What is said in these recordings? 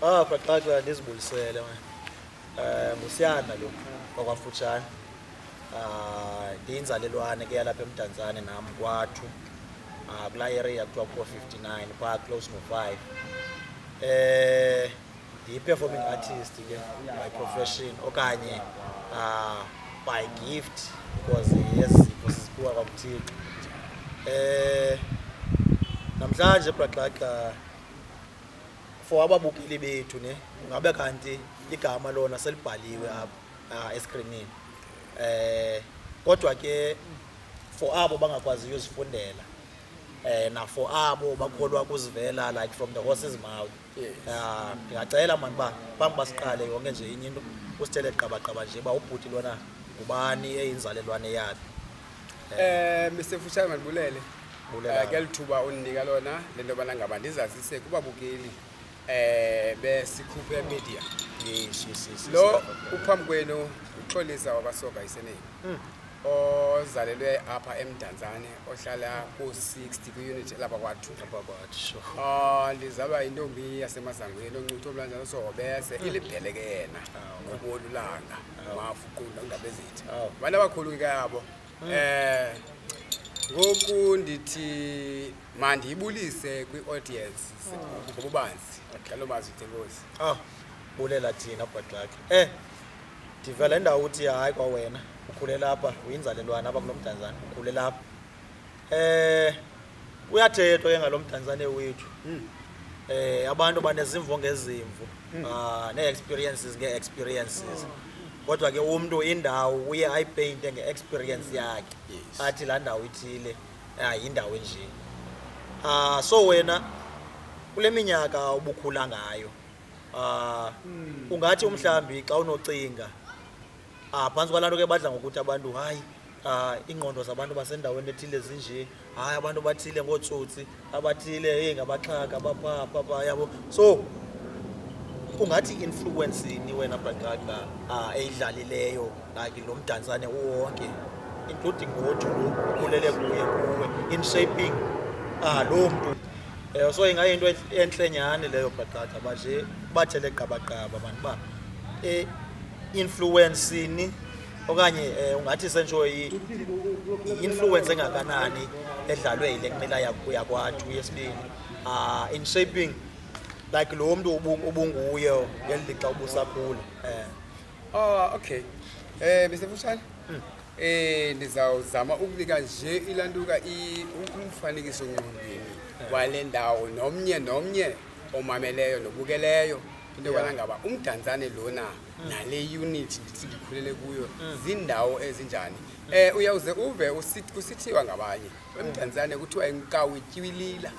Oh, baqaxa ndizibulisele wena. Eh, Musiyana lo okwafutshane. Ah, ndiyinzalelwane ke yalapha eMdantsane nam kwathu. Ah, kula area kuthiwa kuko 59 phaa close no 5. Eh, ndiyi-performing artist ke by profession okanye uh, by gift because yezipho siziphiwa kwakuthixo um eh, namhlanje braxaxa for ababukeli bethu ne ngabe kanti igama lona selibhaliwe apha uh, eskrinini um eh, kodwa ke for abo bangakwaziyo uzifundela um eh, nafor abo bakholwa kuzivela like from the horses mouth Ah, ndingacela mani uba phambi uba siqale yonke nje inye into usithele qabaqaba nje uba ubhuti lona ngubani eyinzalelwane yakhe Eh Mr Fushane mandibulele. Bulela. Eh, Kelithuba undinika lona lento bana ngaba ndizazise kubabukeli eh besikhuphe media. Yes, yes, yes, yes. Lo uphambi kwenu uxolisa wabasoka iseneni. ozalelwe apha emdantsane ohlala ku-60 kwiunithi elapha kwathu ah, ndizalwa yintombi yasemazangweni oncuthu omlanjana sohobese ah. ilibhelekena ah, ngobolulanga mafuqunda undaba ezithi abantu abakhulu ke kabo um eh, ngoku ndithi mandiyibulise kwi-audience ngobubanzi ngalo mazwi thenkosi bulela thina bhadlakhe um eh, ndiva le ndawo uthi hayi kwawena ukhulela apha uyinzalelwana apha kulo mdantsane ukhulela apha um kuyathethwa ke ngalo mdantsane wethu um abantu banezimvo ngezimvo um nee-experiences ngee-experiences kodwa ke umntu indawo uye ayipeyinte nge-experience yakhe athi laa ndawo ithile hayi yindawo enjeni um so wena kule minyaka ubukhula ngayo Ah, ungathi umhlambi xa unocinga ah phantsi kwalaa nto ke badla ngokuthi abantu hayi ah iingqondo zabantu basendaweni ethile zinje hayi abantu bathile ngootsotsi abathile eyi ngabaxhaka bapha pha pha yabo so ungathi i-influence ni wena bragaga ah eyidlalileyo like lo mdantsane uwonke including ngoju lo ukhulele kuye kuwe in shaping ah loo mntu Eh, so ingayinto entle nyhani leyo bhatata uba nje bathele gqabagqaba bantu uba eh, i-influensini okanye eh, ungathi sentsho i- i-influence engakanani edlalwe yile kumela yak- yakwathu yesibini Ah, in shaping like lo mntu ubu- ubunguye ngeli lixa ubusakhula um Ah, okay. Eh, Mr. Fushane, Eh ndizawuzama ukunika nje ilantuka umfanekiso ngqondweni wale ndawo nomnye nomnye omameleyo nobukeleyo into yokubana ngaba umdantsane lona mm. nale unit ndithi ndikhulele kuyo mm. ziindawo ezinjani um uyawuze uve kusithiwa ngabanye emdantsane mm. kuthiwa inkawu ityibilila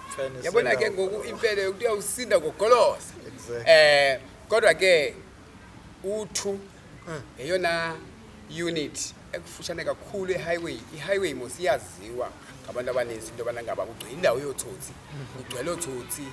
yabona ke ngoku impele kuthiwa usinda ngogolosa um kodwa ke U2 mm. yeyona unit ekufutshane kakhulu ehighway ihighway mos iyaziwa ngabantu abaninzi into yobana ngaba kugcwele indawo yootsotsi kugcwele ootsotsi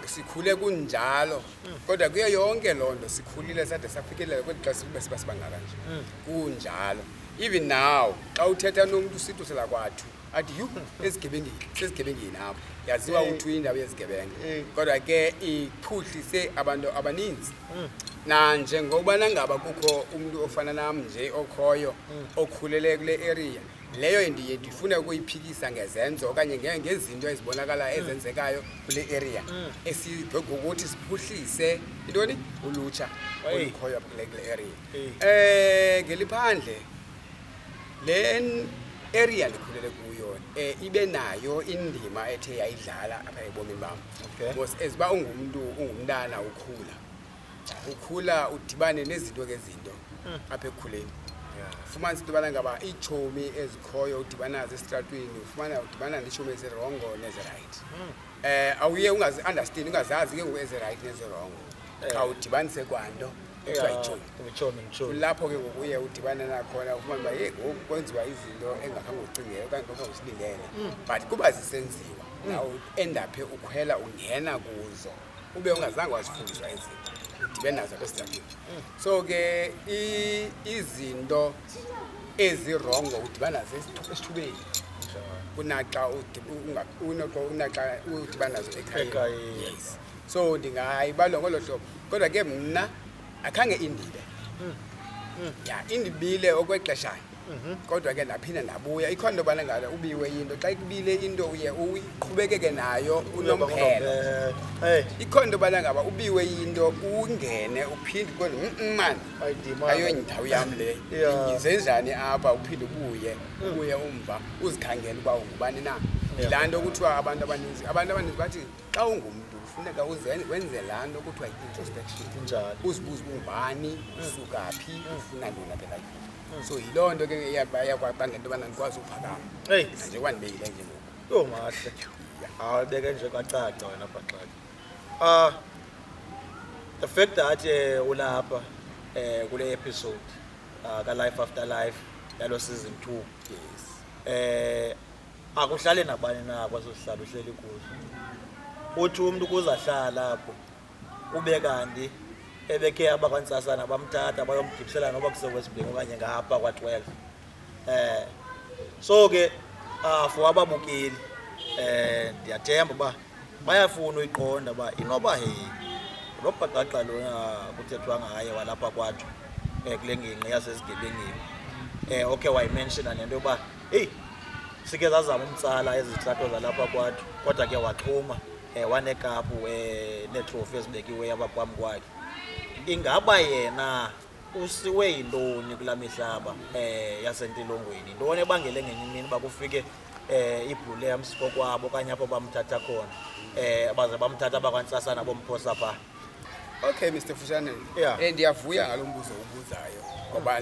sikhule kunjalo kodwa kuyo yonke loo nto sikhulile sade safikelela kweli xa sibe siba sibangaka nje kunjalo even now xa uthetha nomntu usithu selakwathu athi yhu ezigebengeni sezigebengeni apho yaziwa Eh. uthi indawo yezigebenga Eh. kodwa ke iphuhlise abantu abaninzi Mm. nanjengokubana ngaba kukho umntu ofana nam nje okhoyo Mm. okhulele kule area leyo ndiye ndifune ukuyiphikisa ngezenzo okanye nge- ngezinto ezibonakalayo Mm. ezenzekayo kule area Mm. esigokuthi siphuhlise intoni ulutsha Hey. olukhoyo apha kule kule area Hey. um ngeliphandle le area ndikhulele kuyo um ibe nayo indima ethe yayidlala apha ebomini bam Okay. because as uba ungumntu ungumntana ukhula ukhula udibane nezinto ngezinto apha ekukhuleni fumanisa into yobana ngaba iitshomi ezikhoyo udibana nazo esitratweni ufumana udibana neetshomi ezirongo nezirayithi Eh awuye ungazi understand ungazazi ke ngoku eze right neze wrong. Cha udibanise kwanto. Kuthiwa ichomi. Uchomi ngichomi. Kulapho ke ngoku uye udibane nakhona ufumane uba ye ngoku kwenziwa izinto engakhange ucingele okanye ngokhange usilindele. But kuba zisenziwa nawe end up ukhwela ungena kuzo. Ube ungazange wazifundiswa izinto. Udibene nazo apha esitratweni. So ke i- izinto ezirongo udibana esithubeni kunaxa unaxa udibana nazo ekhayeni yes so ndingayibalwa ngolo hlobo kodwa ke mna akhange indibe hmm. Hmm. ya indibile okwexeshana mhm. kodwa ke ndaphinda ndabuya ikhona into yobana ngalo ubiwe into xa ikubile into uye uqhubekeke nayo unomphelo ikhona into yobana ngaba ubiwe into ungene uphinde kodwa mm, mm, mani ayondawo yam le zenzani apha uphinde ubuye hmm. ubuye umva uzikhangele uba ungubani na yilaa nto kuthiwa abantu abaninzi abantu abaninzi bathi xa ungumntu kufuneka wenze laa nto kuthiwa yi-introspection uzibuze ubani mm. usuka phi mm. ufuna ntona phela mm. so yiloo nto ke eyakwabanga into yobana ndikwazi uphakama njengoba ndibeyile nje ngoku yho mahle awubeke nje kwacaca wena bhaxaka Uh, the fact that uh, ulapha uh, kule episode uh, ka-life after life yalo season two yes. um akuhlali nabani na kwaso sihlala uhleli kuzo uthi umntu ukuze ahlala apho kube kanti ebekhe abakwantsasana bamthatha bayomgibisela noba kusewesibhing okanye ngapha kwa-twelve um so ke uh, for ababukeli um ndiyathemba uba bayafuna uyiqonda uba inoba he lo bhaqaqa lona kuthethwa ngaye walapha kwatsho um eh, kule ngingqi yasezigebengini um eh, okhe wayimenshina nento yokuba eyi sike zazama umtsala ezitratho zalapha kwatsho kodwa ke waxhuma um wanekapu um neetrofi ezibekiweyo abaphambi kwakhe ingaba yena usiwe yintoni kula mihlaba um yasentilongweni yintoni ebangele ngenye imini uba kufike um ibhule yamsiko kwabo okanye apho bamthatha khona um baze bamthatha abakwantsasana bomphosa phaa okay mr fushane yeah. um ndiyavuya ngalo mbuzo ubuzayo ngoba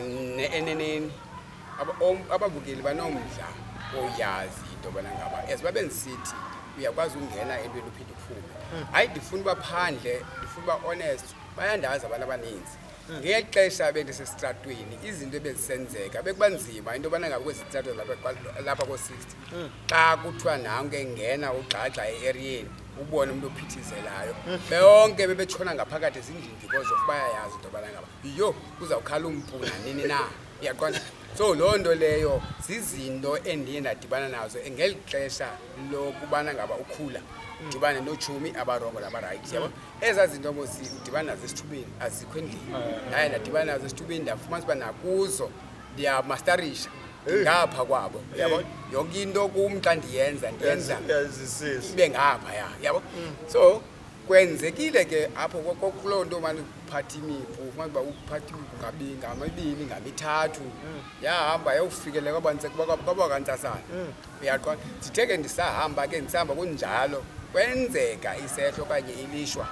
eneneni ababukeli banomdla oyazi into yobana ngaba as babe ndisithi uyakwazi ukungena entweni uphinde uphume hmm. hayi ndifuna uba phandle ndifuna uba honest bayandazi abantu abaninzi hmm. ngeli xesha bendisesitratweni izinto ebezisenzeka bekuba nzima into yobana ngabe kwezi trato lapha koo-sixty hmm. xa kuthiwa nanke ngena ugxagxa e-eriyeni ubone umntu ophithizelayo hmm. beonke bebetshona ngaphakathi ezindini because of bayayazi into yobana ngaba yho kuzawukhala umpu nanini na iyaqonda so loo nto leyo zizinto endiye ndadibana nazo ngeli xesha lokubana ngaba ukhula udibane notshomi abarongo nabarayithi yabo ezaa zinto mos udibana nazo esithubeni azikho endlini naye ndadibana nazo esithubeni ndafumanisa uba nakuzo ndiyamastarisha ndingapha kwabo yabo yonke into kum xa ndiyenza ndiyenza ibe ngapha ya yabo so kwenzekile ke apho kuloo nto mani uphatha imipu ufumana uba uphatha imipu ngamibini ngamithathu yahamba yawufikelela kwabantsasana uyaqonda ndithe ke ndisahamba ke ndisahamba kunjalo kwenzeka isehlo okanye ilishwa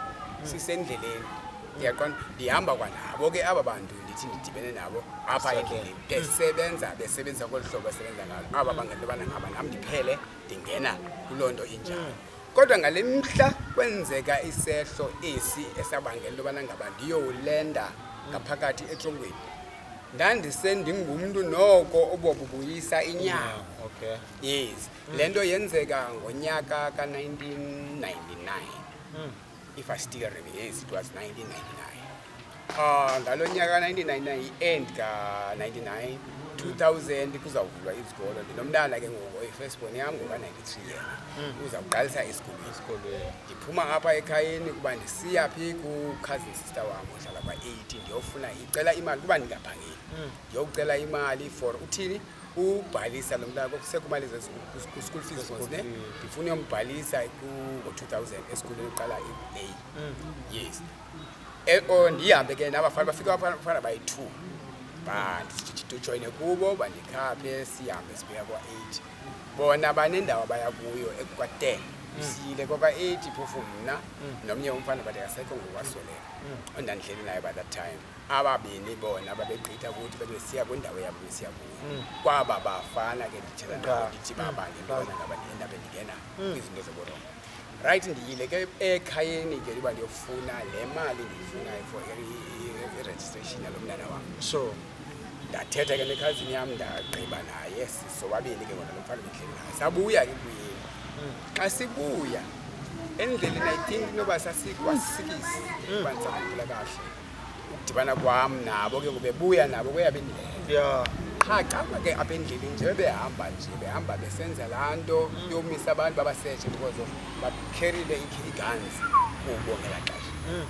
sisendleleni uyaqonda ndihamba kwanabo ke aba bantu ndithi ndidibene nabo apha endleleni besebenza besebenza kolu hlobo esebenza ngalo aba bangabantu bana ngaba nam ndiphele ndingena kuloo nto injalo kodwa ngale mhla kwenzeka isehlo esi esabangela into yobana ngaba ndiyowulenda ngaphakathi etrongweni ndandisendingumntu noko obobubuyisa inyama okay. yes mm. le nto yenzeka ngonyaka ka-1999 mm. if i still remember yes it was 1999 Ah, ngalo nyaka 1999 i-end ka-99 2000 kuzawuvulwa izikolo ndinomntana ke ngoku oyifirstborn yam ngoka-93 yena hmm. uza kuqalisa esikolweni ndiphuma apha ekhayeni kuba ndisiya phi kukhazin sister wam ohlala kwa-80 ndiyofuna ndicela imali kuba ndingaphangeli mm. ndiyokucela imali for uthini ubhalisa lo mntana sekumali ku-school fees was ne ndifuna uyombhalisa ngo-two thousand esikolweni uqala i-a mm. yes e, o ndihambe ke nabafana bafike abafana bayi-two bandijoyine kubo bandikhaphe sihambe sibheka kwa-eight bona banendawo abaya kuyo ekukwa-ten mm. siyile kwakwa-eight phofu mna mm. nomnye umfana bade asekho ngokwasweleka ondandileli naye by that time ababini bona babegqitha ukuthi bebesiya kwindawo yabo besiya kuyo mm. kwaba bafana ke ndithetha nabo ndithi baba mm. ndibona ngaba ndihenda bendingena mm. kwizinto zoborongo right ndiyile ke ekhayeni ke uba ndiyofuna le mali ndiyifunayo for i-registration yalo mntana wam so ndathetha ke nekhazini yam ndagqiba naye sisobabini ke ngona lomfana bendleli naye sabuya ke kuyini xa sibuya endleleni i think inoba sasikwasikisi mm. uba ndisakhumbula kahle ukudibana kwam nabo ke ngobebuya nabo kweyabe ndlela qha xa ke apha endleleni nje behamba nje behamba besenza laa nto mm. yomisa abantu babasetshe because of bakherile ii-guns kubo ngela xesha mm.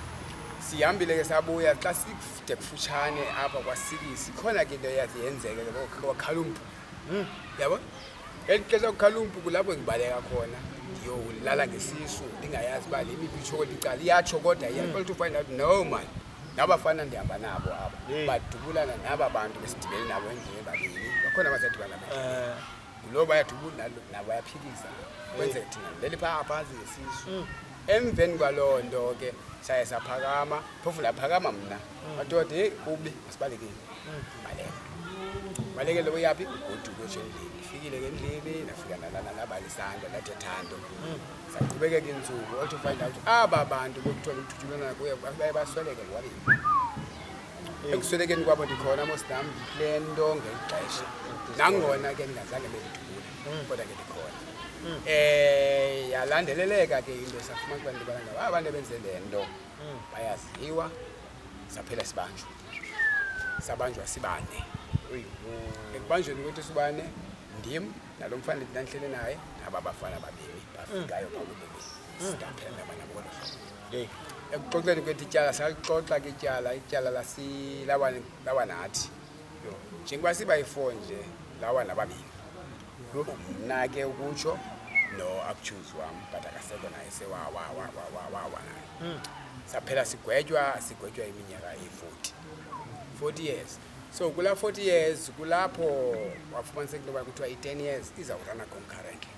sihambile ke sabuya xa side kufutshane apha kwasikisi khona ke into eyathi yenzeke ke kwakhala umbhulu hmm, yabo elixesha ukukhala umpuku lapho ngibaleka khona ndiyolala ngesisu ndingayazi uba le miphi itshoko licala iyatsho kodwa iyaxola to find out no man nabafana ndihamba nabo abo badubulana naba bantu besidibele nabo endlini babini bakhona abazadibana nabo eh. ngulo bayadubula nabo bayaphikisa kwenzeka thina leli phaa phansi ngesisu hmm. emveni kwaloo nto ke saye saphakama phofu ndaphakama mna madoda heyi kubi masibalekile baleka balekele uyaphi goduko nje endlini ndifikile ke endlini ndafika ndalala nabalisanda ndathi thando saqhubekeka iintsuku all to find out aba bantu bekuthiwa bekuthutshulelana kuye baye basweleke lwabini ekuswelekeni kwabo ndikhona mosnam le nto ngexesha nangona ke ndingazange bendidubule mm. kodwa ke ndikhona um yalandeleleka ke into safumana kuba ndibana ngabo aba nto benze le nto mm. bayaziwa saphela sibanjwa sabanjwa sibane ekubanjweni kwethu sibane ndim nalo mfana ndinandihlele naye naba bafana babini bafikayo bakubini sidaphela ndabana ngolo hlobo ekuxoxeni kwethu ityala salixoxa ke ityala ityala lawa nathi njengoba siba yi-four nje lawa nababini mna ke ukutsho no akutshuzi wam but akasekho naye sewawawawawawa naye hmm. saphela sigwetywa sigwetywa iminyaka eyi-forty forty years so kulaa forty years kulapho wafumaniseka into yoba kuthiwa i-ten years izawurana concurrently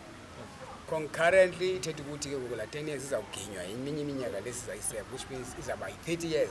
concurrently ithetha ukuthi ke ngoku laa ten years izawuginywa eminye iminyaka lesizayiseka which means izawuba yi-thirty years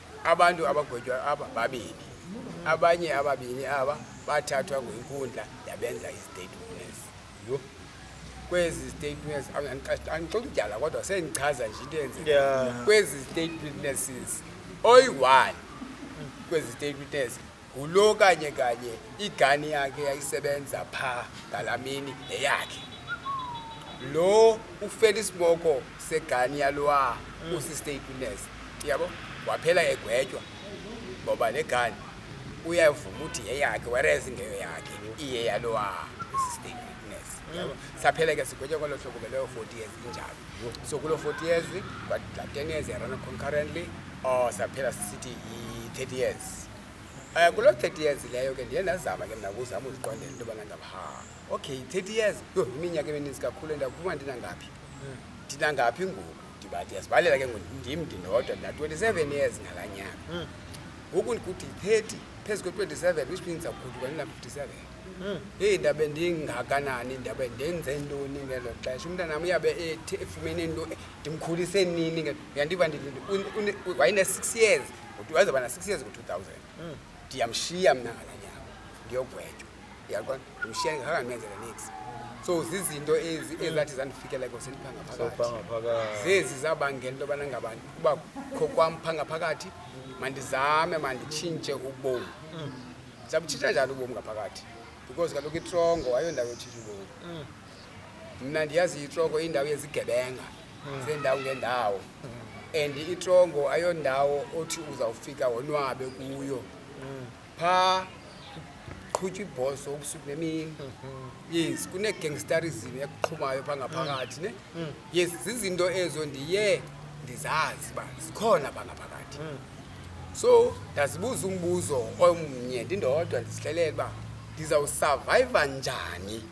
Abantu abagwetywa aba babini, abanye ababini aba bathathwa ngwenkundla yabenza istatements. Yho, kwezi statements andixoxa umdyala kodwa sendichaza nje into enzeke. Kwezi statements oyi-one kwezi statements ngulo kanye kanye igani yakhe yayisebenza pha ngalaa mini neyakhe lo ufela isiboko segani yalowa mm. usistateliness yabo waphela egwetywa ngoba le gani uyavuma ukuthi yeyakhe whereas ngeyo yakhe iye yalowa usistateliness yabo mm. saphela ke sigwetywa kwalo hlobo ke leyo forty years injalo so kuloo forty years but la ten years yarana concurrently or oh, saphela sisithi yi-thirty years Eh, kulo 30 years leyo ke ndiye ndazama ke mna kuzama uziqondela into yobana ngaba ha okay 30 years yho iminyaka emininzi kakhulu ndakuba ndinangaphi ndinangaphi ngoku ndiba ndiyazibalela ke ngoku ndim ndinodwa ndina-27 years ngala nyaka ngoku ndikuthi 30 phezu kwe-27 which means akuguduka ndina-57 heyi ndabe ndingakanani ndabe ndenze ntoni ngelo xesha umntanam uyabe ethi efumene nto ndimkhulise nini nge- uyandiva ndithi wayene-six years Uthi wayezaba na-six years ngo-two thousand hmm. ndiyamshiya mna ngala nyama ndiyogwetywa yaqona ndimshiya ndingakangenzela nix so zizinto ezi hmm. ezathi zandifikela ekoseni phangaphakathi zezi zabangela into yobana ngaba kuba kho kwam phangaphakathi mandizame manditshintshe ubomi hmm. zabutshintsha njani ubomi ngaphakathi because kaloku itrongo ayondawo yotshintsha ubomi mna ndiyazi itroko indawo yezigebenga zeendawo ngeendawo and itrongo ayondawo othi uzawufika wonwabe kuyo phaa kuqhutywa ibhoso ubusuku nemini yes kunegangstarism ekuqhumayo phaa ngaphakathi ne yes zizinto ezo ndiye ndizazi uba zikhona phaa ngaphakathi so ndazibuza umbuzo omnye ndindodwa ndizihlelele uba ndizawusurvayiva njani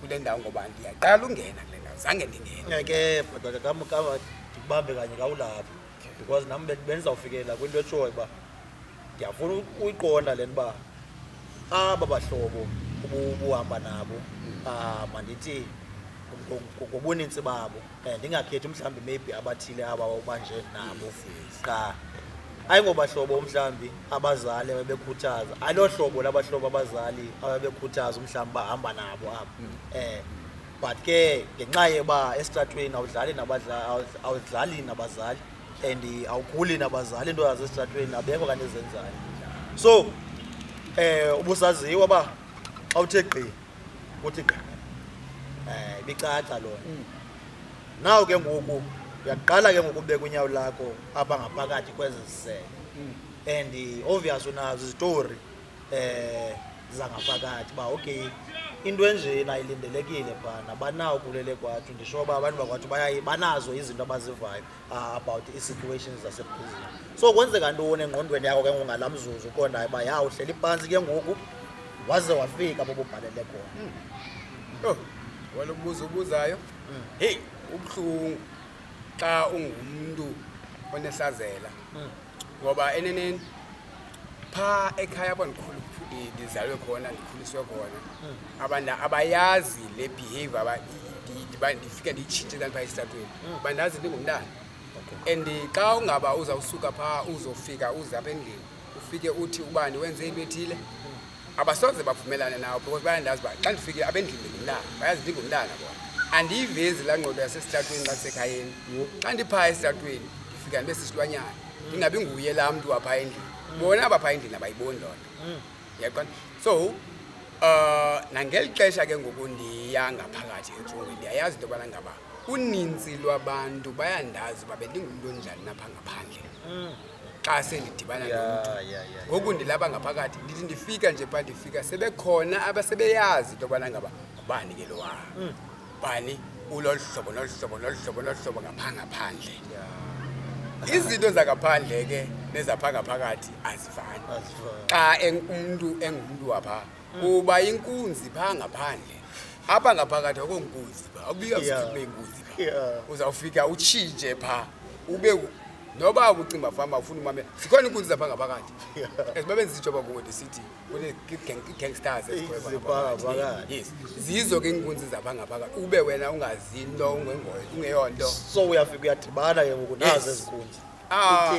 kule ndawo ngoba ndiyaqala ungena kule ndawo zange ndingena ke bhuti wakhe kamkama ndikubambe kanye kawulapho because nam be- bendizawufikelela kwinto etshoyo uba ndiyafuna u- uyiqonda le nto uba aba bahlobo ubu- ubuhamba nabo ah, mandithi ngo- ngo- ngobuninzi babo Eh, ndingakhethi mhlawumbi maybe abathile aba ubanje nabo qha hayi ngobahlobo mhlawumbi abazali ababekhuthaza aloo hlobo labahlobo abazali ababekhuthaza umhlawumbi bahamba nabo apha um hmm. eh, but ke ngenxa yeba esitratweni awudlali awudlali nabazali and awuguli nabazali into yazo esitratweni abekho kanti ezenzayo so um ubusaziwa uba awuthe gqi kuthi gqa um ibicaca loo mm. naw ke ngoku uyaqala ke ngoku ubeka unyawo lakho apha ngaphakathi kwezi zisele mm. and obvious unazo izitori um zangaphakathi uba okay into enjena ilindelekile phana banawo kulele kwathu ndisho uba abantu bakwathu bayaye banazo izinto abazivayo ah, about ii-situations zaseprison so kwenzeka ntoni engqondweni yakho ke ngongala mzuzu uqondayo uba ya uhleli phantsi ke ngoku waze wafika bobubhalele khona hmm. yho walo buzo ubuzayo hmm. heyi ubuhlungu xa ungumntu onesazela hmm. ngoba eneneni phaa ekhaya apho ndikhulu ndizalwe khona ndikhuliswe khona abantu abayazi le behavior aba- i- i- ndiba- ndifike ndiyitshintshe kanti phaa esitratweni bandazi ndingumntana and xa ungaba uzawusuka phaa uzofika uze apha endlini ufike uthi ubani wenze into ethile abasoze bavumelane nawo because bayandazi uba xa ndifike apha endlini ndingumntana bayazi ndingumntana bona andiyivezi laa ngqondo yasesitratweni xa ndisekhayeni xa ndiphaa esitratweni ndifika ndibe sisilwanyana ndingabi nguye laa mntu waphaa endlini bona abaphaa endlini abayiboni loo nto mm. yaqona so um nangeli xesha ke ngoku ndiya ngaphakathi entsungweni ndiyayazi into yobana ngaba uninzi lwabantu bayandazi uba bendingumntu onjani napha ngaphandle mm. xa sendidibana nomntu ngoku ndilaba ngaphakathi ndithi ndifika nje pha ndifika sebekhona abasebeyazi into yobana ngaba ngubani ke lowa hmm. bani ulolu hlobo nolu hlobo nolu hlobo nolu hlobo ngapha ngaphandle izinto zangaphandle ke nezapha ngaphakathi azifani xa umntu engumntu wapha hmm. uba inkunzi pha ngaphandle apha ngaphakathi akho nkunzi pha akubika zikube inkunzi pha uzawufika utshintshe pha ube noba ukucimba fama ufuna umame zikhona iinkunzi zapha ngaphakathi as babe ndizijoba kuwo ndisithi kunee-gangstars yes zizo ke iinkunzi zapha ngaphakathi ube wena ungazinto ungengoyo ungeyonto so uyafika uyadibana ke ngoku nazo ezi kunzi ah,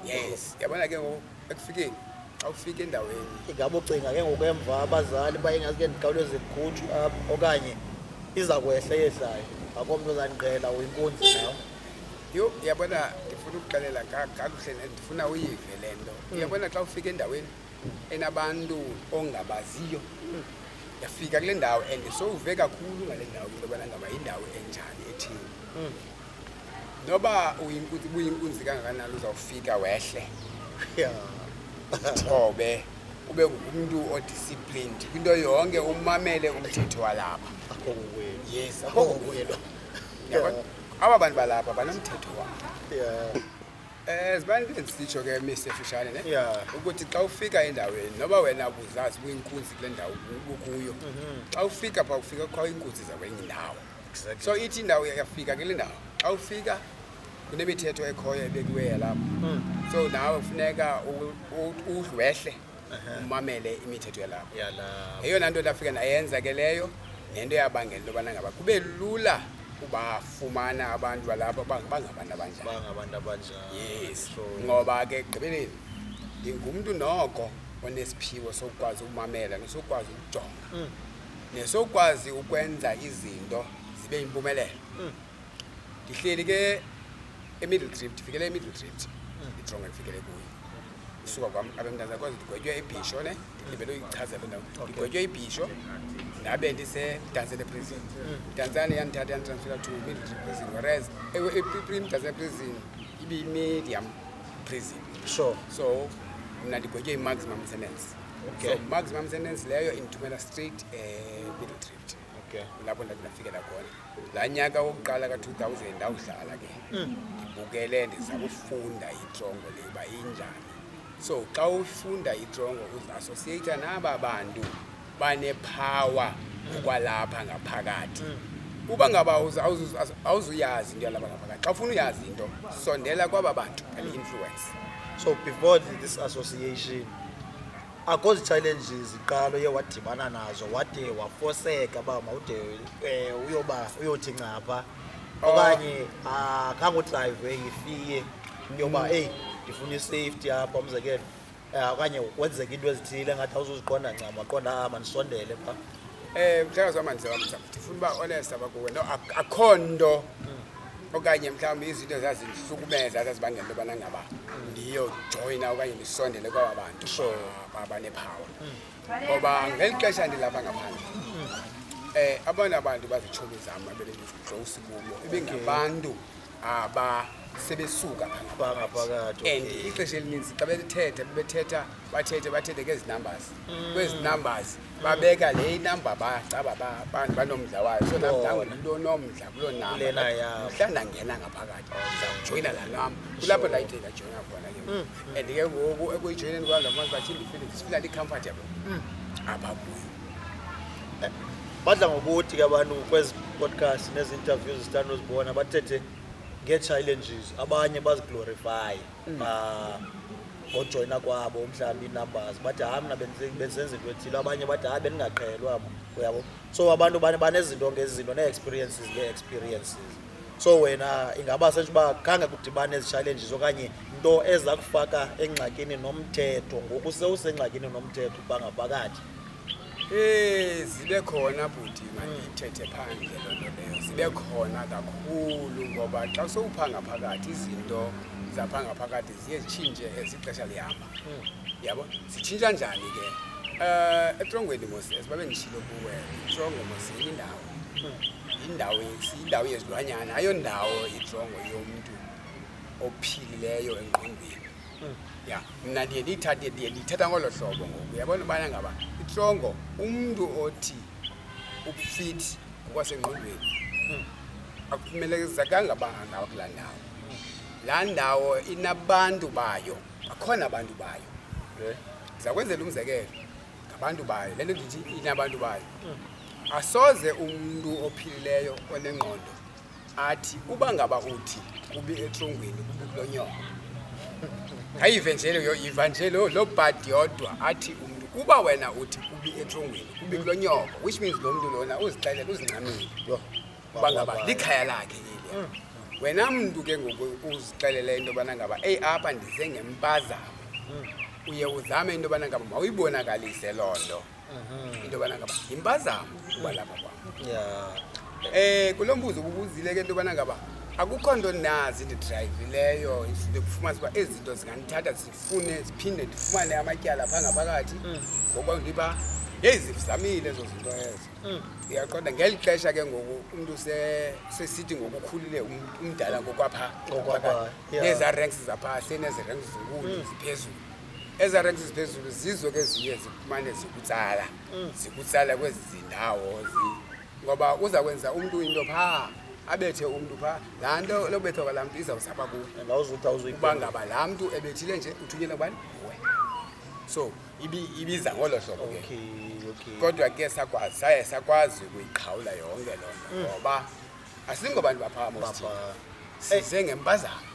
yes yabona ke ngoku ekufikeni xa ufika endaweni ingaba ucinga ke ngoku emva abazali bayingazi ke ndikhawuleze ndikhutshwe apha okanye iza kwehla yehlayo akomntu ozandiqela uyinkunzi nawo yho uyabona ndifuna ukuxelela kakuhle ndifuna uyive le nto hmm. uyabona xa ufika endaweni enabantu ongabaziyo hmm. yafika kule ndawo and sowuve kakhulu ngale ndawo into yobana ngaba yindawo enjani ethini hmm. noba buyinkunzi kangakanani uzawufika wehle thobe ube ngumntu odisciplined kwinto yonke umamele umthetho walapha yes akokuyelwa aba bantu balapha banomthetho wabo yeah. Eh, zibantu endisitsho ke misi efishane ne yeah. ukuthi xa ufika endaweni noba wena buzazi buyinkunzi kule ndawo bukuyo mhm. xa ufika pha ufika kukho iinkunzi zakwenye indawo exactly. so ithi indawo yafika kule ndawo xa ufika kunemithetho ekhoyo ebekiweyo lapho mm. so nawe kufuneka udlwehle umamele imithetho yalapho eyona nto ndafika ndayenza ke leyo nento yabangela into yobana ngaba kube lula ubafumana abantu balapha bangabantu abanjanibangabantu abanjani yes ngoba ke ekugqibeleni ndingumntu noko onesiphiwo sokukwazi ukumamela nesokukwazi ukujonga mm. nesokukwazi ukwenza izinto zibe yimpumelelo mm. ndihleli ke emiddle drift ndifikele emiddle drift itrongo ndifikele kuyo isuka kwam abemntana kwaze ndigwetywe ibhisho ne ndilibele uyichaza loo ndawo ndigwetywe ibhisho ndabe ndisedantsele prison dantsane yandithatha yanditransfera to middle drift prison whereas imdantsele prison ibimedium prison sure so mna ndigwetywe i-maximum sentence Okay. so maximum sentence leyo indithumela straight um middle drift okay lapho ndandinafikela khona laa nyaka wokuqala ka-two thousand ndawudlala ke mm. ndibukele ndiza kufunda itrongo le uba injani so xa ufunda itrongo uziassociata naba bantu banephawa ngokwalapha ngaphakathi mm. uba ngaba awuzuyazi into yalapha ngaphakathi xa ufuna uyazi into sondela kwaba bantu and influence so before this association akho zi-challenges qala uye wadibana nazo wade wafoseka uba mawude um uyoba uyothi ncapha oh. okanye akhangodrayive ah, ngifiye yoba mm. eyi ndifuna isafety apha umzekelo eh, okanye kwenzeka into ezithile ngathi awuzuziqonda ncam waqonda ah, mandisondele pha um mhlawumbi samandisewamsa ndifuna uba honest abakuwe no akho nto mm. okanye mhlawumbi izinto zazindihlukumeza zazibangela into yobana ngaba ndiyojoyina okanye ndisondele kwaba bantu abanephawa ngoba ngeli xesha ndilapha ngaphandle um eh, abona abantu bazitshomi zam abebendidlowusi kubo ibingabantu aba sebesuka phakathi and ixesha elininzi xa bethethe bebethetha bathethe bathethe ngezi numbers mm. kwezi numbers babeka le inamba bacaba abantu banomdla wayo so nam ndangumntu onomdla kuloo Kulena yam. namhla ndangena ngaphakathi ndizawujoyina laa nam kulapho ndayithe ndajoyina khona ke Mm. and ke ngoku ekuyijoyineni kwam ndafumanisa uba tyhini ndifile ndifila ndi-comfortable Mm. apha kuyo badla ngokuthi ke abantu kwezi podcast nezi interviews zithanda uzibona bathethe ngee-challenges abanye baziglorifye mm. ngojoyina kwabo mhlawumbi iinumbers bathi hayi mna bendisenza into ethile abanye bathi hayi bendingaqhelwa mna uyabo so abantu banezinto ngezinto nee-experiences ngee-experiences so wena ingaba sentsho uba khange kudibane ezi-challenges okanye nto eza kufaka engxakini nomthetho ngoku sewusengxakini nomthetho ubangaphakathi Eh zibe khona bhuti mandithethe phandle loo nto leyo zibe khona kakhulu ngoba xa sowupha ngaphakathi izinto zapha ngaphakathi ziye zitshintshe as ixesha lihamba yabo zitshintsha njani ke um etrongweni moses babe ndishilo kuwe itrongo mos yindawo yindawo yindawo yezilwanyana ayondawo itrongo yomntu ophilileyo engqondweni ya mna ndiye ndiyithathe ndiye ndiyithatha ngolo hlobo ngoku uyabona ubana ngaba itrongo umntu othi ufithi ngokwasengqondweni akumelezekanga uba angaba kulaa ndawo laa ndawo inabantu bayo bakhona abantu bayo ndiza kwenzela umzekelo ngabantu bayo le nto ndithi inabantu bayo asoze umntu ophilileyo onengqondo athi uba ngaba uthi kubi etrongweni kubi kulo nyoko ayive nje leyo iva nje lo lo bhadi yodwa athi umntu kuba wena uthi kubi etrongweni kubi kulo nyoko which means lo mntu lona uzixelela uzincamile Yho. uba ngaba likhaya lakhe leliya wena mntu ke ngoku uzixelela into yobana ngaba eyi apha ndize ngempazamo uye uzame into yobana ngaba mawuyibonakalise loo nto Mhm. Into bana ngaba impazamo kuba lapha kwa. Yeah. Eh kulombuzo ubuzile ke into bana ngaba akukho nto nazi ndidrivileyo ndikufumana uba ezi zinto zingandithatha zifune ziphinde ndifumane amatyala phaa ngaphakathi mm. ngoba ndiba yeyi zizamile ezo zinto ezo mm. ndiyaqonda ngeli xesha ke ngoku umntu sesithi ngokukhulile um, umdala ngokwaphaa nezaa ranks zaphaa senezi ranks zinkulu mm. ziphezulu ezaa ranks ziphezulu zizo ke ziye zikumane zikutsala mm. zikutsala kwezi zindawo ngoba uza kwenza umntu into phaa abethe umntu phaa laa nto lokubethwa kwalaa mntu izawusapha kuuba ngaba laa mntu ebethile nje uthunyela ubani we so ibiza ngolo hlobo ke kodwa ke sakwazi saye sakwazi ukuyiqhawula yonke loo nto mm. ngoba asingobantu baphaa mosithina size ngempazamo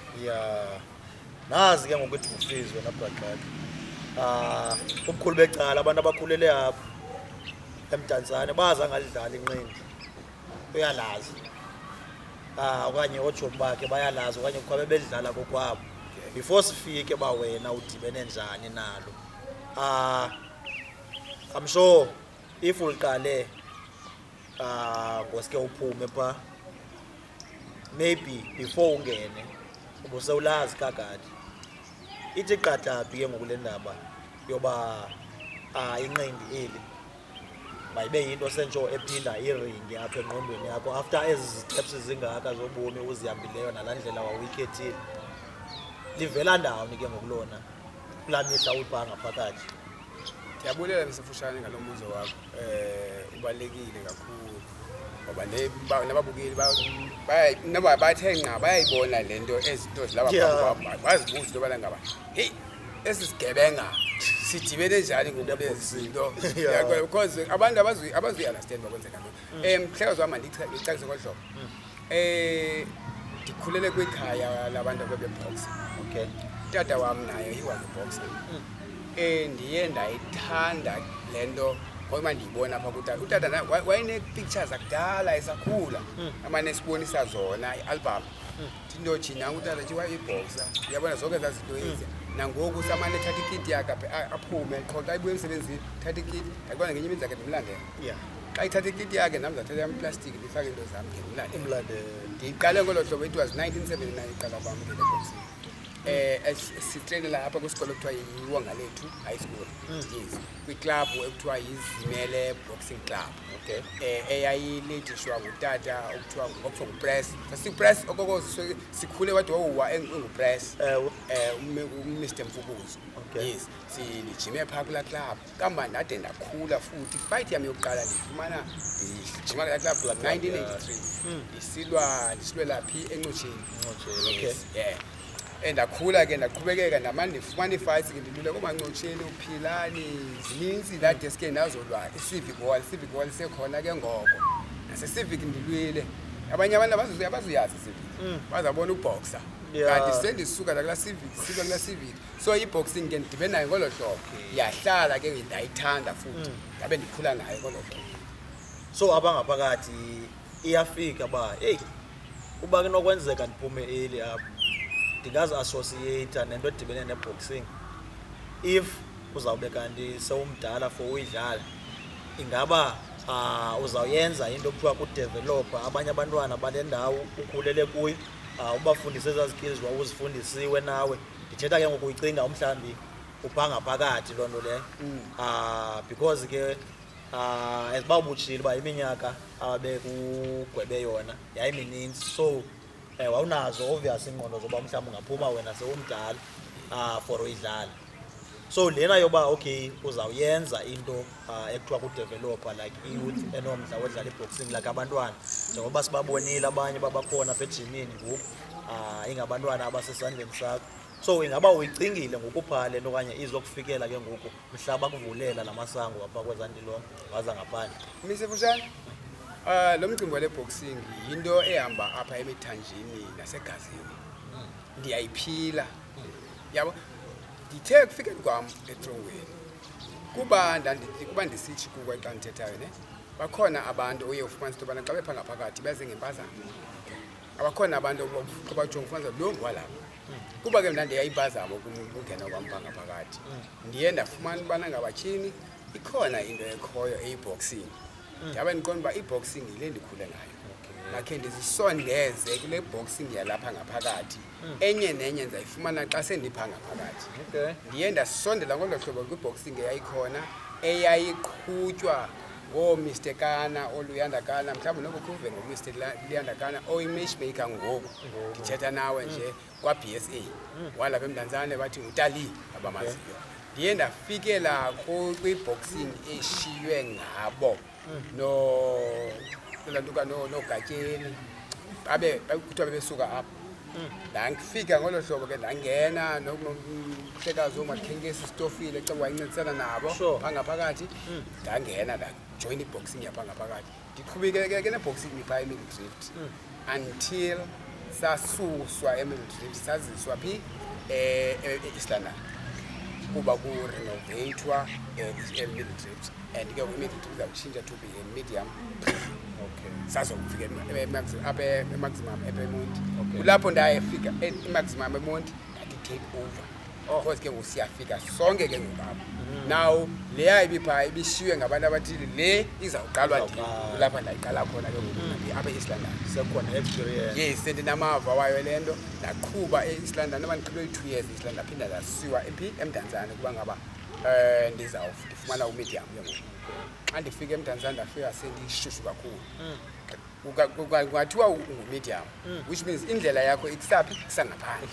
nazi ke ngokuthi kufizwe nabhaqaka um ah, ubukhulu becala abantu abakhulele apho emdantsane bazi angalidlala inqindi uyalazi um okanye ootshomi bakhe bayalazi okanye kukho bebedlala kokwabo before sifike uba wena udibene njani nalo um ah, i'm sure if uliqale um ngoske uphume phaa maybe before ungene ubusewulazi kagadi ithi qataphi ke ngoku le ndaba yoba uh, inqindi eli mayibe yinto sentsho ephinda iringi apha engqondweni yakho after ezi ziteps zingaka zobomi uzihambileyo nalaa ndlela wawuyikhethile livela ndawoni ke ngokulona kulaa mihla uyibhanga phakathi ndiyabulela msefushane ngalo mbuzo wakho ibalulekile kakhulu ngoba nababukeli noba bathe nqa bayayibona le nto ezinto zilaba bazibuza into yobana ngaba heyi esi sigebenga sidibene njani ngokulezinto because abantu abazuyi-understand bakwenzeka nto um mhlekazi wam mandicacise ngolu hlobo mm. Eh ndikhulele kwikhaya labantu abebeboxa. Okay. Tata wam naye he was a boxer. Mm. Eh ndiye ndayithanda le nto ngoba ndiyibona apha kutata. Utata naye wayenee-pictures akudala esakhula. Mm. Amane esibonisa zona i-album. Mm. Ndinothi nangu utata nje wayeyibhoxa. Uyabona zonke ezaa zinto mm. ezintsha. nangoku samane ethatha ikiti yakhe aphume qho xa ibuye emsebenzini thatha ikiti ndakubona ngenye imini zakhe ndimlandela xa ithatha ikiti yakhe nam zathatha yam iplastiki ndifake into zam ke ndilale ndiyiqale ngolo hlobo it was 1979 iqala kwam ke leboxing um sitreyinela apha kwisikolo ekuthiwa yiwonga lethu high school hmm. yes kwiklabhu ekuthiwa yizimele boxing club okay um eyayilejishwa ngutata okuthiwa okuthiwa ngupress sasipress okoko sikhule wade wawuwa engupress um umr mfukuzo yes sijime phaa kulaa club kamva ndade ndakhula futhi fight yam yokuqala ndifumana ndijima kulaa club club 1983 hmm. ndisilwa ndisilwela phi encotsheni okay yeah and ndakhula ke ndaqhubekeka ndamane ndifumana iifights ke ndilule koomancotsheni uphilani zininzi laa desk endazolwa isivic wall isivic wall sekhona ke ngoko nasesivic ndilwile abanye abantu abazuyazi isivic hmm. bazabona ubhoxa kanti sendisuka nakulaa civic sika kulaa civic so iboxing ke ndidibe nayo ngolo hlobo yahlala ke ndayithanda futhi mm. ndabe ndikhula nayo ngolo hlobo so abangaphakathi iyafika uba eyi uba kunokwenzeka ndiphume eli apho ndingazi associata nento edibene neboxing if uzawube kanti sewumdala for uyidlala ingaba uh, uzawuyenza into okuthiwa kudevelopha abanye abantwana bale ndawo ukhulele kuyo uh, ubafundise ezaa skills wawuzifundisiwe nawe ndithetha ke ngoku uyicinga umhlawumbi ubhanga phakathi loo nto leyo um ah, because ke um as uba ubutshile uba iminyaka ababekugwebe yona yayimininzi so um wawunazo obvious iingqondo zoba mhlawumbi ungaphuma wena sewumdala um for uyidlala so lena yoba okay uzawuyenza into uh, ekuthiwa kudevelopa like iyouth enomdla wodlala iboxing like abantwana njengoba sibabonile abanye babakhona apha ejimini ngoku uh, ingabantwana abasesandleni sakho so ingaba uyicingile ngokuphaa le nto okanye izokufikela ke ngoku mhla bakuvulela la masango apha kwezandilongo waza ngaphandle misefushane um ah, lo mcimbi wale boxing yinto ehamba apha emithanjeni nasegazini ndiyayiphila yabo ndithe ekufikeni kwam etrongweni kuba kuba ndisitsho kuko xa ndithethayo ne bakhona abantu oye ufumanisa into yobana xa bepha ngaphakathi beze ngempazamo abakhona abantu obajonga ufumanisa lo ngwalapha kuba ke mna ndiyayimpazamo ukungena kwam pha ngaphakathi ndiye ndafumana ubana ngabatyhini ikhona into ekhoyo eyiboxing ndabe ndiqonda uba iboxing yile ndikhule ngayo makhe ndizisondeze kule boxing yalapha ngaphakathi enye nenye ndizayifumana xa sendipha ngaphakathi ndiye ndasondela ngolo hlobo kwiboxing eyayikhona eyayiqhutywa ngoomr kana oluyanda kana mhlawumbi noko khuve ngomr luyanda kana oyimatchmaker ngoku ndithetha nawe nje kwa-b s a hmm. walapha emntanzane wathi utali abamaziyo ndiye ndafikela kwiboxing eshiywe ngabo nolantuka noogatsheni babe kuthiwa bebesuka apho ndandifika ngolo hlobo ke ndangena nomhlekazi omakhenkesi isitofile xa wayincedisana nabo phangaphakathi hmm. ndangena ndajoyina iboxing yaphangaphakathi ndiqhubekeke neboxing phaa emini drift hmm. until sasuswa emildrift saziswa phi eh, eh, e-east london kuba kurenovatwa emildrift and ke imildrift izawutshintsha to be a medium Okay. sazokufika apha emaximum epemonti Okay. kulapho ndayefika emaximum emonti ndati-take over Of ke ngoku siyafika sonke ke ngoku apha. Mm. Now leya ibipha ibishiywe ngabantu abathile le izawuqalwa ndim Izawuqalwa. kulapha ndayiqala khona ke ngoku Mm. apha e-East London. Sekhona experience. Yes, sendinamava wayo le nto ndaqhuba e-East London noba ndiqhube i-two years e-East London ndaphinda ndasiwa ephi eMdantsane kuba ngaba um ndizawuf- ndifumana umedium ke ngoku. Xa ndifika eMdantsane ndafika sendishushu kakhulu. Mm. kungathiwa ungumedium mm. which means indlela yakho ikusaphi kusangaphandle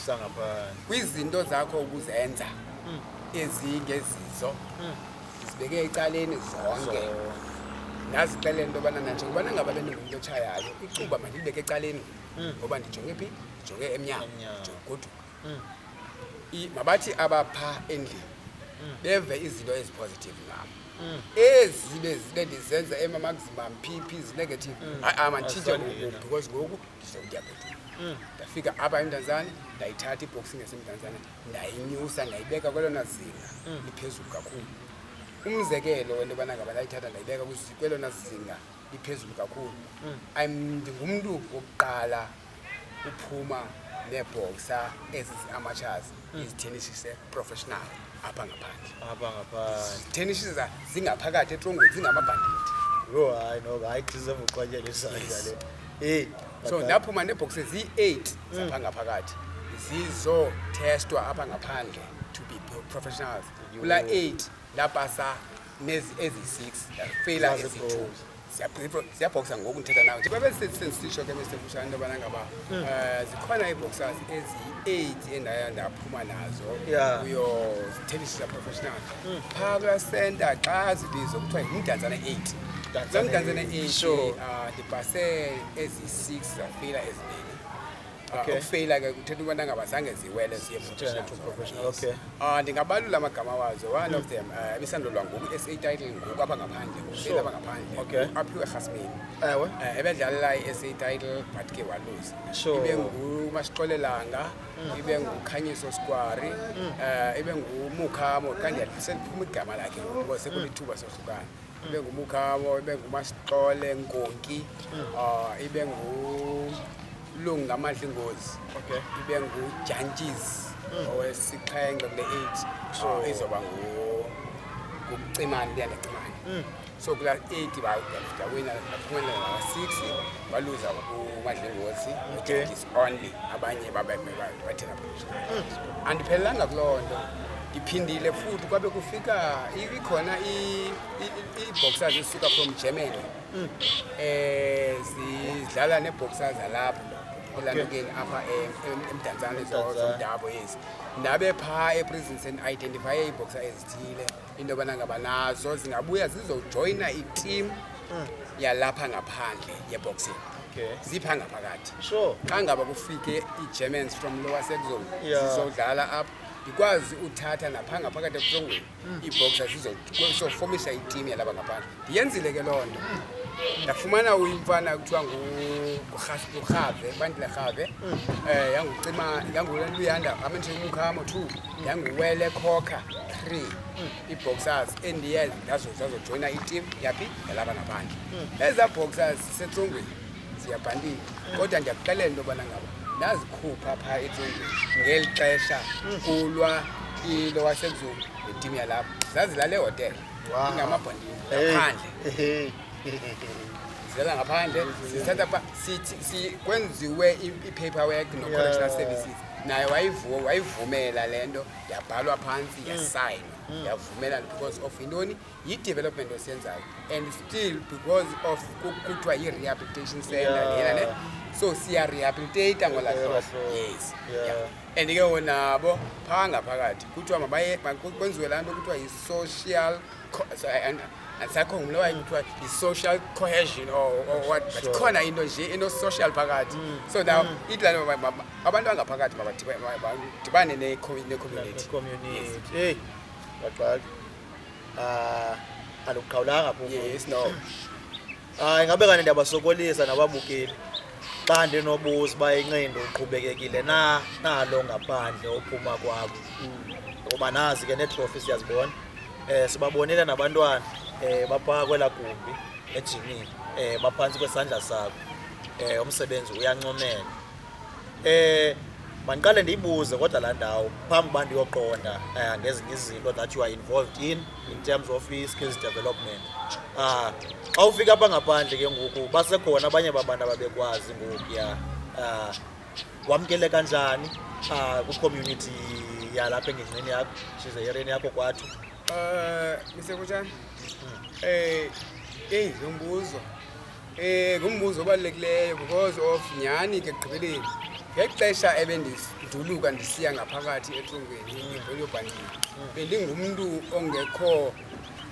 kwizinto zakho ukuzenza mm. ezingezizo mm. zibeke ecaleni zonke nazixele into yobana nanje kubana ngaba bendingumntu otshayayo icuba mandilibeke ecaleni ngoba ndijonge phi ndijonge emnyango ndijonge goduka mm. mabathi abapha endlini mm. beve izinto ezipositive ngam mm. ezi bezibe ndizenza emamagzimam pp zinegative hayi ama nditshintshe ngoku because ngoku ndizokutya bhetile Mm. ndafika apha emntanzane ndayithatha iboxing yasemntanzane ndayinyusa ndayibeka kwelona zinga mm. liphezulu kakhulu umzekelo wento yobana ngaba ndayithatha ndayibeka kwelona zinga liphezulu kakhulu I'm- ndingumntu wokuqala uphuma neebhoksa ezi zi-amatshas izithenishise professional apha ngaphandle apha ngaphandle zithenishisa zingaphakathi etrongweni zingamabhandithi yho hayi noba hayi deserve uqwatyela isandla le eyi so bhaqani. ndaphuma neebhokse ziyi-eight zapha ngaphakathi zizothestwa apha ngaphandle to be pro- professionals kula eight ndapasa eziyi-six feyila eziyi-two ziyabhoksa ngoku ndithetha nawe njengoba besisitsho ke besemfutshane into yobana ngaba um hmm. eh, zikhona ii-boxers eziyi-eight endaya ndaphuma nazo kuyo zithelishisa professional hmm. phaa kula senta xa zibizo kuthiwa yimdantsana eight loo mdantsana eight ah, ndibhase eziyi-six zafeyila eziningi Ah, okay. ukufeyila ke kuthetha ubana ngaba zange ziwele ziye okay. uh, ndingabalula amagama wazo one of them uh, ebisandolwa ngoku s a title ngoku apha ngaphandle ngokufeyila apha ngaphandle okay. aphiwe erhasmini ewe uh, ebedlalela i-s a title but ke waluza sure. ibe ngumashixolelanga mm. ibe ngukhanyiso skwari mm. uh, ibe ngumukhamo kanti seliphuma igama lakhe ngoku sekulithuba mm. sohlukana ibe ngumukhawo ibe ngumasixole ngonki uh, ibe ngulungu ngamadla ingozi okay. ibe ngujantshis mm. owesixhenxe kule eight so oh. izoba ngucimane ndiya ndacimane mm. so kula eight bawina baphumelela six baluza umadla ingozi okay. only abanye babeme bathina andiphelelanga kuloo nto ndiphindile futhi kwabe kufika ikhona ii-boxers zisuka from germany um zidlala nee-boxer zalapho elandukeni apha emdantsane zomdabo ezi ndabe phaa eprison sendiidentifye ii-boxer ezithile into yobana ngaba nazo zingabuya zizojoyina itimu hmm. yalapha ngaphandle yeboxing okay. zipha ngaphakathi sure. xa ngaba kufike ii-germans from lower sexon yeah. zizodlala apho ndikwazi uthatha napha ngaphakathi ebusongweni mm. iibhoxa zizofomisa itimu yalaba ngaphandle ndiyenzile ke loo nto ndafumana uyimfana kuthiwa ngurhave bandile rhave um mm. eh, yangucima yanguluyanda amandishe umkhamo two ndanguwele khokha three ii-boxers endiye zazojoyina itimu yaphi yalaba nabandla hmm. ezaa boxers zisetsongweni ziyabhandile hmm. kodwa ndiyakuxelela into yobana ngaba ndazikhupha phaa etsongweni ngeli xesha hmm. kulwa ilo wasezulu netimu yalapho zazilale ehotele ingamabhandile ngaphandle zela ngaphandle sithatha kwenziwe i-paper work no-correctional services naye wayivu- wayivumela le nto yabhalwa phantsi yasayinwa yavumela because of intoni yi-development osiyenzayo and still because of ku- kuthiwa yi-rehabilitation center Yeah. lena ne so siyarehabilitata ngolaa Yeah, hlobo so- yes yeah. yeah. and ke wonabo phaa ngaphakathi kuthiwa mabaye ma- ku- kwenziwe laa nto kuthiwa yi-social sakho ngulowa kuthiwa yi-social cohesion or, or what but Sure. khona into nje eno-social phakathi so now ithi laa nto ma- ma- ma- abantu bangaphakathi mabadiba- ma- badibane ne-commu- ne-community community hey baxaki ah aluqhawulanga phofu yes no Hayi ngabe kanti ndiyabasokolisa nababukeli xa ndinobuza uba inxindo uqhubekekile na nalo ngaphandle ophuma kwakho ngoba nazi ke neetrofi siyazibona um sibabonile nabantwana um baphaa kwelaa gumbi ejimini um baphantsi kwesandla sakho um umsebenzi uyancomela Eh mandiqale ndiyibuze kodwa laa ndawo phambi uba ndiyoqonda um ngezinye izinto that you are involved in in terms of i-skills development um xa ufika apha ngaphandle ke ngoku basekhona abanye babantu ababekwazi ngoku ya um wamkele kanjani um kwicommunity yalapha engingqini yakho shize yereni yakho kwathu um misekutshani um eyi yombuzo Eh ngumbuzo obalulekileyo because of nyhani ke ekugqibeleni ngexesha ebendiduluka ndisiya ngaphakathi etrongweni ngemveli yobhandile bendingumntu ongekho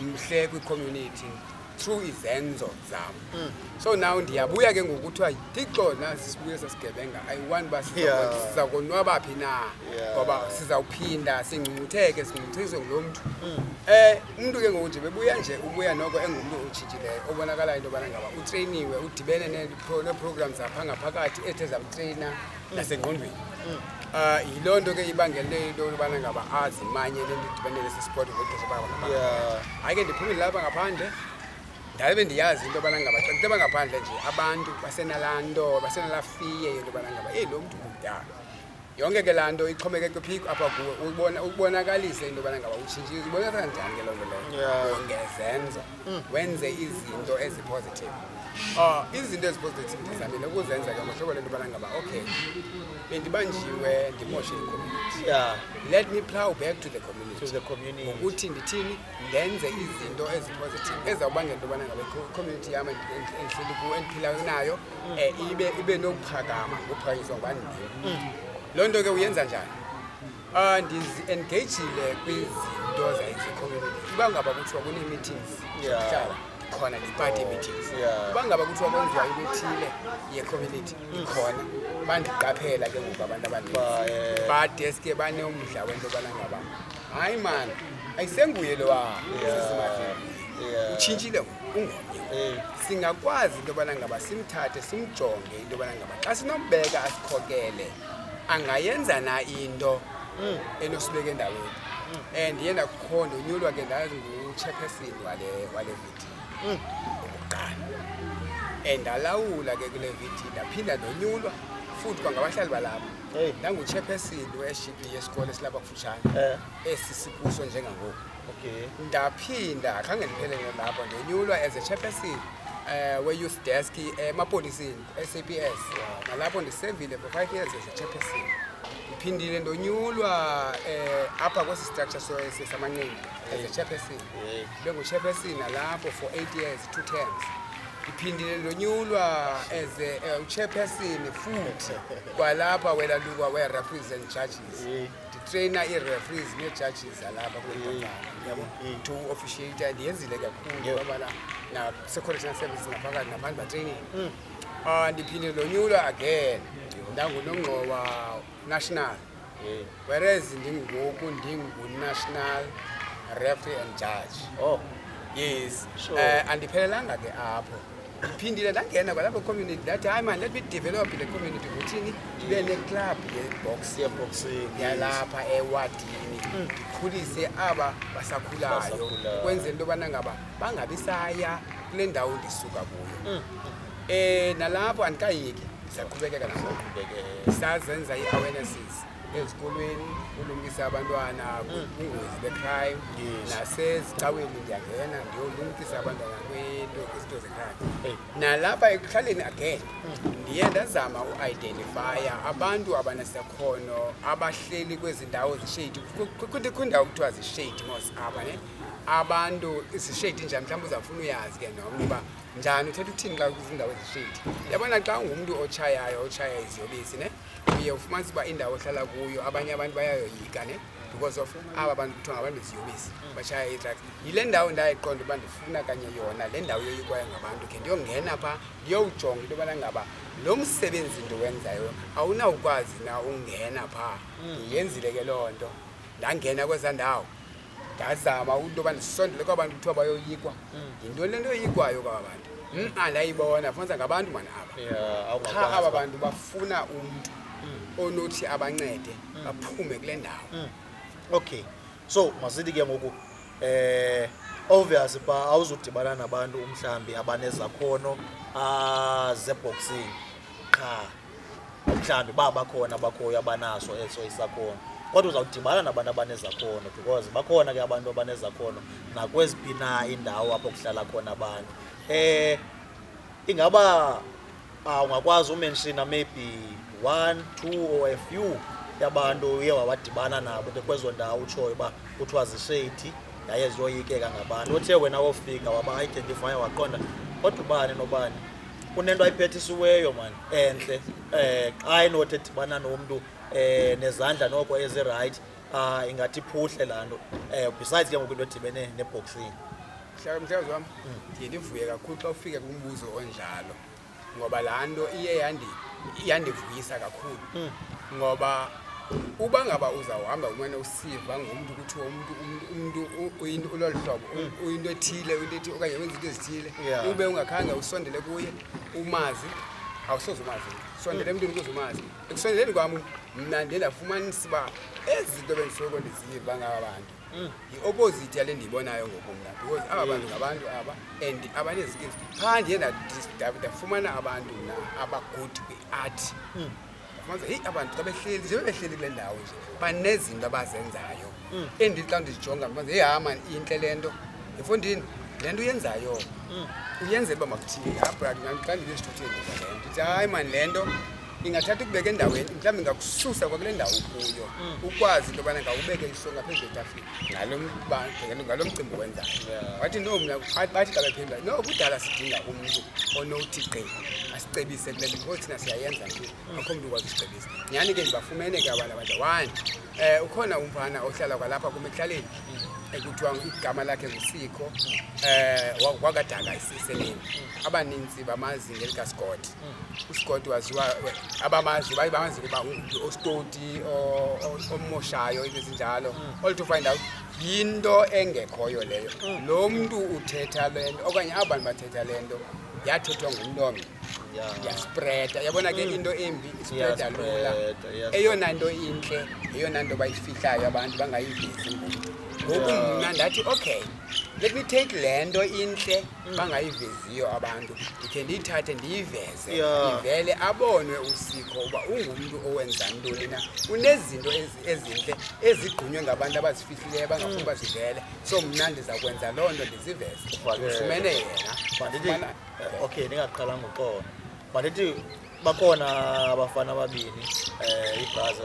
mhle kwicommunity through izenzo zam hmm. so now ndiyabuya ke ngokuthiwa thixo nasisibuye sasigebenga i want uba siza konwaba phi na ngoba sizawuphinda singcungcutheke singcungcuthiswe ngulo mntu um umntu ke ngoku nje bebuya nje ubuya noko engumntu otshitshileyo obonakalayo into yobana ngaba utreyiniwe udibene neeprogram zapha ngaphakathi ethe zamtreyina mm. nasengqondweni um mm. ah, yiloo nto ke ibangele into yobana ngaba azimanye le nto idibene nesi sport ngexesha hayi ke ndiphumile lapha ngaphandle ndabe ndiyazi into yobana ngaba xa nditeba ngaphandle nje abantu basenalaa nto basenalaa fiye yento yobana ngaba eyi lo mntu mdala yonke ke laa nto ixhomeke kwiphiko apha kuwe ubona ubonakalise into yobana ngaba utshintshile ibonakala njani ke loo nto leyo Yeah. ungezenza wenze izinto ezipositive um izinto ezipositive ndizamile ukuzenza ke ngohlobo lento yobana ngaba okay bendibanjiwe ndimoshe icommunity yeah let me plow back to the community to the community ngokuthi ndithini ndenze izinto ezipositive ezawubangela into yobana ngaba icommunity yam endi- endi- endihleli kuyo endiphila nayo eh, ibe ibe nokuphakama ngokuphakanyiswa ngubani mm. loo nto ke uyenza njani um ndizi-engagile kwizinto zayizicommunity uba ngaba kuthiwa kunee-meetings zokuhlala khona ne-party meetings uba ngaba kuthiwa kwenziwa into ethile ye-community ikhona bandiqaphela ke ngoku abantu abaninzi eh, badeske banomdla wento yobana ngaba hayi mani ayisenguye lowa sesimadlini utshintshile ngoku ungumyoleli singakwazi into yobana ngaba simthathe simjonge into yobana ngaba xa sinombeka asikhokele angayenza na into hmm. enosibeka endaweni hmm. and ye ndakukho ndonyulwa ke ndazingutshephesin wale wale vidiyo hmm. okokuqala and ndalawula ke kule vidiyo ndaphinda ndonyulwa futhi kwangabahlali balapho ndangutshephesin weshipi yesikole esilapha kufutshane eh. esi sikuso njengangoku okay ndaphinda khange ndiphelele lapho ndonyulwa as a chairperson um we-youth desk emapoliseni ku-saps nalapho ndisevile for five years as a chairperson ndiphindile ndonyulwa um apha kwesi structure samanqindi as a chairperson benguchairperson nalapho for eight years two terms ndiphindile ndonyulwa as a- eh, uchairperson futhi kwalapha welalukwa we-referees and judges nditreyina ii-referees nee-judges zalapha kule ntombana yabo to officiate ndiyenzile kakhulu yobana na-security service ngaphakathi nabantu batreyinile um ndiphinde ndonyulwa again ndangunongxowa national whereas ndingoku ndingunational referee and judge Oh, yes Sure. um andiphelelanga ke apho ndiphindile ndangena kwalapho community ndathi hayi mani let me develop the community ngothini ndibe neclub yeboxing yalapha ewadini mm. ndikhulise aba basakhulayo ukwenzela into yobana ngaba bangabi saya kule ndawo ndisuka kuyo um nalapho andikayeki siyaqhubekeka naso sazenza i-awarenesses ezikolweni ulungisa abantwana kwingozi becrime nasezicaweni ndiyangena ndiyolumkisa abantwana kwinto izinto zecrime nalapha ekuhlaleni again ndiye ndazama uidentifya abantu abanesakhono abahleli kwezi ndawo zishedi kwindawo kuthiwa zishedi mos aba ne abantu zishedi njani mhlawumbi uzawufuna uyazi ke nomnye uba njani uthetha uthini xa kwizindawo ezishedi yabona xa ungumntu otshayayo otshaya iziyobisi ne uye ufumanisa uba indawo ohlala kuyo abanye abantu bayayoyika ne because of aba bantu kuthiwa ngabantu beziyobisi bashaya iitraks yile ndawo ndayiqonda uba ndifuna kanye yona le ndawo yoyikwayo ngabantu khe ndiyongena pha ndiyowujonga into yobana ngaba lo msebenzi ndiwenzayo awunawukwazi na ungena pha mm. yenzile ke loo nto ndangena kweza ndawo ndazama into yoba ndisondele kwaba bantu kuthiwa bayoyikwa mm. yintoni le nto yoyikwayo kwaba bantu mm, andayibona fumanisa ngabantu mani aba qha aba bantu bafuna umntu mm. onothi abancede baphume kule ndawo okay so masithi ke ngoku eh obvious ba awuzudibana nabantu umhlambi abanezakhono ah, zeboxing qha mhlawumbi uba bakhona abakhoyo abanaso eso isakhono kodwa uzawudibana nabantu abanezakhono because bakhona ke abantu abanezakhono nakweziphi na indawo apho kuhlala khona abantu um ingaba ah, ungakwazi umenshina maybe one two or a few yabantu uye wawadibana nabo ke kwezo ndawo utshoyo uba kuthiwa zisheyithi yaye ziyoyikeka ngabantu othe wena wofika waba-identifya waqonda kodwa ubani nobani kunento ayiphethisweyo mani entle um xa enothi edibana nomntu um eh, nezandla noko ezirayithi um ah, ingathi iphuhle laa nto um besides ke ngoku into edibene neboxing mhlawumbi wam ndiye ndivuye kakhulu xa ufike kumbuzo onjalo ngoba laa nto iye yandivuyisa kakhulu hmm. ngoba uba ngaba uzawuhamba umane usiva ngomntu kuthiwa umntu umntu uyinto ulolu hlobo hmm. uyinto ethile uyinto ethile okanye wenza into ezithile ube ungakhange usondele kuye umazi awusoze umazi sondele emntwini ukuze umazi ekusondeleni kwam mna ndiye ndafumanisa uba ezi zinto bendisoloko ndiziva ngaba bantu Mm. yi-opposite yale ndiyibonayo ngoku mna because aba bantu mm. ngabantu aba and abanezikills phaa ndiye ndafumana abantu mna abagood kwi-art mm. fumanisa heyi abantu xa behleli njengoba behleli kule ndawo nje banezinto abazenzayo endi xa ndizijonga ndifumanisa heyi hama intle le nto efondini le nto uyenzayo uyenzela uba makuthini apha xa ndibe esithutheni le nto ndithi hayi mani le nto Ingathatha ukubeka endaweni mhlawumbi ngakususa kwakule ndawo ukuyo mm. ukwazi into yobana ngawubeke isonga phezu kwetafile ngalo mcimbi wenzayo wathi no mna bathi xa bephendula no kudala sidinga umntu onothi gqi asicebise kule nto because thina siyayenza nje mm. akho mntu ukwazi usicebisa nyhani ke ndibafumene ke abantu abadla one um ukhona umfana ohlala kwalapha kum ekuhlaleni mm. ekuthiwa igama lakhe ngusikho um wakadala isiseleni abaninzi bamazi ngelikasikoti usigodi waziwa abamazi baye bamazi kuba ngumntu ostoti omoshayo into ezinjalo all to find out yinto engekhoyo leyo lo mntu uthetha le nto okanye aba bantu bathetha le nto yathethwa ngumntu omnye yaspreda yabona ke mm. into embi ispreda lula eyona nto intle yeyona nto bayifihlayo abantu bangayivezi ngoku mna ndathi okay let me take le nto intle bangayiveziyo abantu ndikhe ndiyithathe ndiyiveze ivele abonwe usiko uba ungumntu owenza ntoni na unezinto ezintle ezigqunywe ngabantu abazifihlileyo abangafuni uba zivele so mna ndiza kwenza loo nto ndiziveze ndifumene yena eh, okay ndingaqala ngoqona mandithi bakhona abafana ababini um eh, ibhazi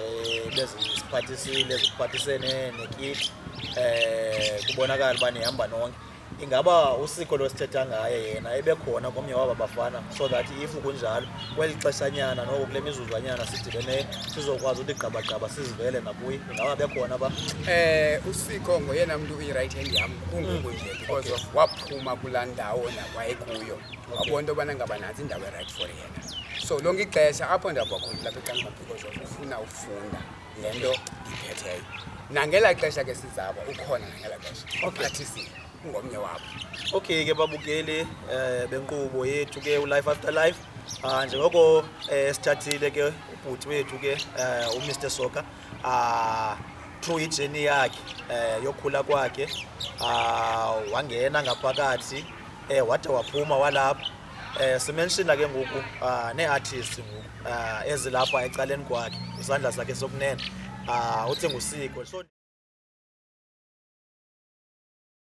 beziphathisile ziphathisene nekiti um eh, kubonakala uba nihamba nonke ingaba usiko lwesithetha ngaye yena ebekhona komnye waba bafana so that if kunjalo kweli xeshanyana noko kule mizuzwanyana sidibeneyo sizokwazi uthi gqabagqaba sizivele nakuye ingaba bekhona ba eh usiko ngoyena mntu uyi-right hand yam kunguku nje because of waphuma kulaa ndawo nakwayekuyo wabona into yobana ngaba nantsi indawo erayithi for yena so lonke ixesha apho ndihamba khona lapha ecangaphiko zofuna ufunda le nto ndiphetheyo nangela xesha ke sizabo ukhona nangela xesha ophathisile ungomnye wabo okay ke babukeli eh benkqubo yethu ke ulife after life ah njengoko eh sithathile ke ubhuti wethu ke eh uMr Soka ah through ijourney yakhe eh yokhula kwakhe ah wangena ngaphakathi eh wade waphuma walapha Eh simenshina ke ngoku ah neartist ngoku ah ezilapha ecaleni kwakhe isandla sakhe sokunene ah uthi ngusiko so